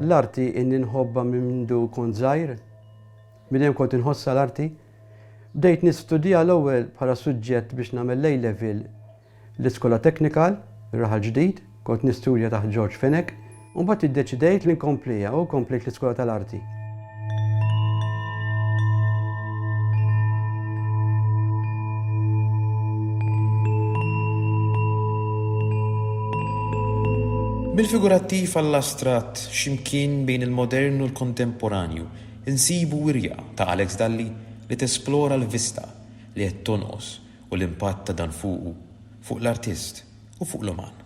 L-arti inni nħobba minn mindu kont żgħir, minn hemm kont inħossha l-arti. Bdejt nistudja l-ewwel bħala suġġett biex nagħmel l-A-Level l-Iskola Technical, ir-Raħal Ġdid, kont nistudja taħt George Fenech, u mbagħad iddeċidejt li nkompliha u komplejt l-Iskola tal-Arti. Mill-figurattiv għall-astratt, x'imkien bejn il-modern u l-kontemporanju, Insibu wirja ta' Alex Dalli li tesplora l-vista li qed tonqos u l-impatt ta' dan fuqu, fuq l-artist u fuq l-uman.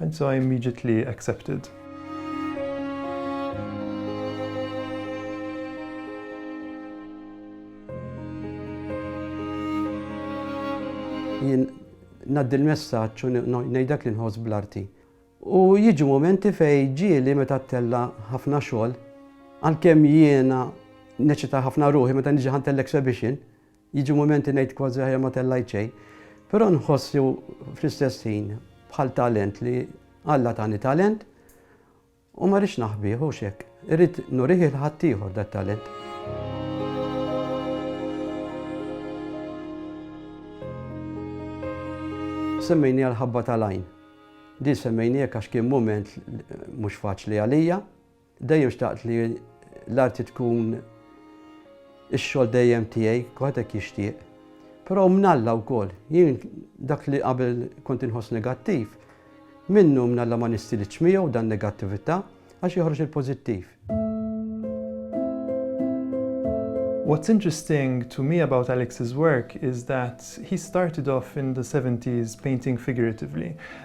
Anzi I immediately accepted. Jien naddi l-messaġġ u ngħidlek li nħoss bl-arti. U jiġu momenti fej ġieli meta ttella ħafna xogħol, għalkemm jiena neċita ħafna ruħi meta niġi ħantell exhibition, Jiġu mumenti ngħid kważi aħjar ma tellajt xejn, però nħoss li fl-istess ħin bħal talent li Alla tani talent u ma rridx naħbih hux hekk. Irrid nurih il ħaddieħor dat-talent. Semmejni għal ħabba tal-għajn. Di semmejni hekk għax kien mument mhux faċli għalija. Dejjem xtaqt li l-arti tkun ix-xogħol dejjem tiegħi, kulħadd hekk jixtieq. Però minn Alla wkoll, jien dak li qabel kont inħoss negattiv, minnu minn Alla ma nistilitx miegħu dan negattività għax joħroġ il-pożittiv. What's interesting to me about Alex's work is that he started off in the seventies painting figuratively,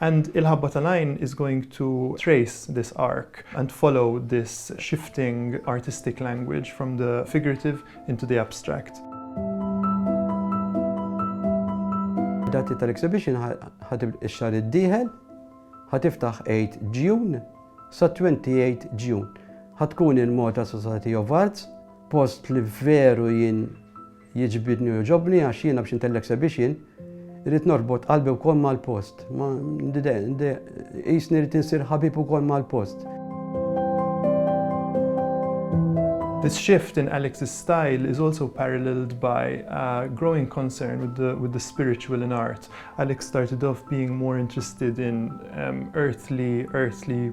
And il-ħabba tal-għajn is going to trace this arc and follow this shifting artistic language from the figurative into the abstract. Id-dati tal-exhibition ħa tibda x-xahar id-dieħel, ħa tiftaħ 8 Ġjun sa 28 Ġjun. Ħa tkun il-Malta Society of Arts, post li veru jien Jigġbidni u jogħġobni għax jiena biex intellek sebiex jien irrid norbot qalbi wkoll mal-post. Ma qisni rrid insir ħabib ukoll mal-post. This shift in Alex's style is also paralleled by a growing concern with the with the spiritual in art. Alex started off being more interested in earthly earthly